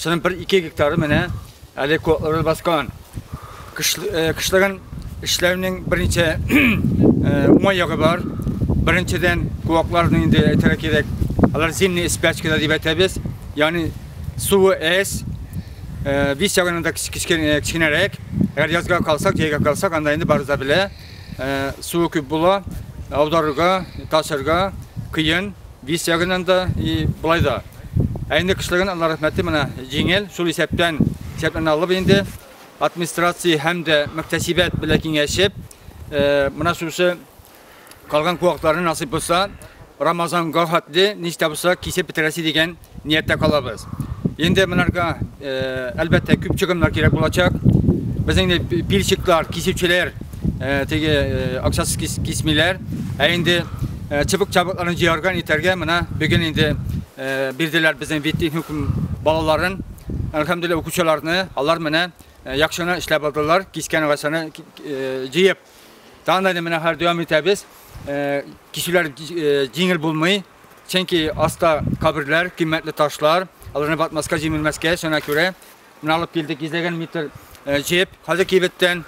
Шуның бер ике гектары менә әле котлары баскан. Кышлыгын эшләүнең берничә уңай ягы бар. Беренчедән, куакларны инде әйтергә кирәк. Алар зимний спячкада дип әйтәбез. Ягъни суы әз, вис ягынан да кечкенәрәк. Әгәр язга калсак, җәйгә калсак, анда инде барыбыз да белә, суы күп була, аударырга, ташырга кыен. Бис ягыннан да и болай да. Ә инде кешеләргә Алла рәхмәте менә җиңел, шул исәптән исәпләрне алып инде администрация һәм дә мөхтәсибәт белән киңәшеп, менә шушы калган куакларны насыйп булса, Рамазанга хәтле ничә булса кисеп бетерәсе дигән Нияттә калабыз. Инде монарга, әлбәттә, күп чыгымнар кирәк булачак. Безнең инде пильщиклар, кисүчеләр, теге акчасыз кисмиләр. Ә инде чыбык-чабыкларын җыярга, нитәргә менә бүген инде бирделәр безнең веттехникум балаларын. Әлхәмдулилла, укучыларны. Алар менә яхшы гына эшләп алдылар, кискән агачны җыеп. Тагын да менә хәзер дәвам итәбез. Кисүләр җиңел булмый. Чөнки аста каберләр, кыйммәтле ташлар, аларны батмаска, җимелмәскә, шуңа күрә менә алып килдек 150 метр җеп, хәзер кибеттән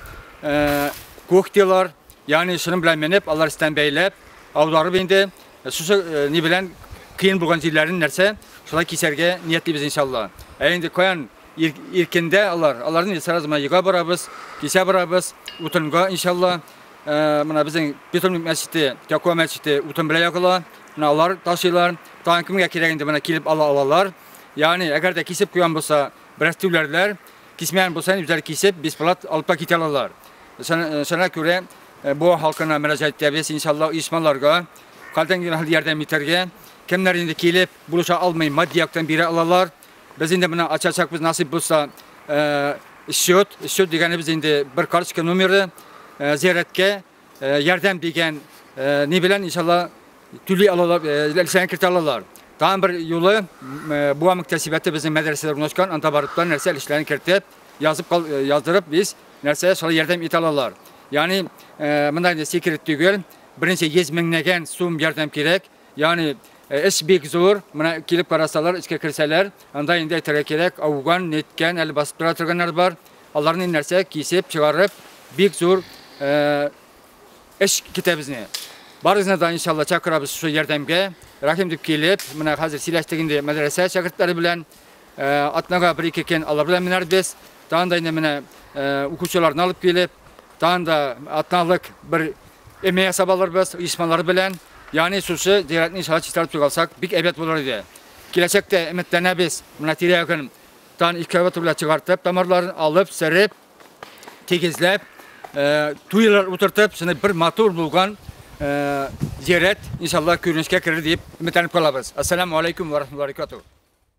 кухтилар, ягъни шуның белән менеп, алар өстән бәйләп, аударып инде, шушы ни белән кыен булган җирләрен нәрсә, шулай кисәргә ниятлибез иншалла. Ә инде каян иркендә алар, аларны сразу мына йога барабыз, кисә барабыз, утынга иншалла. Э, мына безнең бетон мәчете тәкуа мәчете утын белән ягыла мына алар ташыйлар тагын кемгә кирәк инде менә килеп ала алалар ягъни әгәр дә кисеп куйган булса бераз түләрләр кисмәгән булса үзләре кисеп бесплат алып та китә алалар шуңа күрә э, бу халкына мөрәҗәгать итәбез иншалла оешмаларга калдан ярдәм итәргә кемнәр инде килеп булыша алмый матди яктан бирә алалар Без инде менә ачачакбыз насыйп булса счет, счет дигәнебез инде бер карточка номеры зияраткә ярдәм дигән ни белән иншалла түли алалар, ләлсәгә кертә алалар. Тагын бер юлы буа мөктәсибәте безнең мәдрәсәдә урнашкан, анда барып та нәрсә эшләрен кертеп, язып яздырып без нәрсә шулай ярдәм итә алалар. Ягъни мында инде секрет түгел, беренче 100 меңнәгән сум ярдәм кирәк. Ягъни эш бик зур. Менә килеп карасалар, эчкә керсәләр, анда инде әйтергә кирәк, ауган, неткән, әле басып тора торганнар бар. Аларны нәрсә кисеп, чыгарып, бик зур эш китә безне. Барыгызны да иншалла чакырабыз шул ярдәмгә. Рәхим дип килеп, менә хәзер сөйләштек инде мәдрәсә шәкертләре белән. Э, атнага бер ике кен алар белән менәрбез тагын да инде менә э, укучыларны алып килеп тагын да атналык бер эме ясап алырбыз оешмалар белән яғни шушы зиратны иншалла чистартып чыгып алсак бик әйбәт булыр иде киләчәктә өметләнәбез менә тирә ягын тагын экскаватор белән чыгартып тамырларын алып сырып тигезләп э, туйлар утыртып шуны бер матур булган зират иншалла күренешкә керер дип өметләнеп калабыз ассаламу алейкум ва рахматуллаһи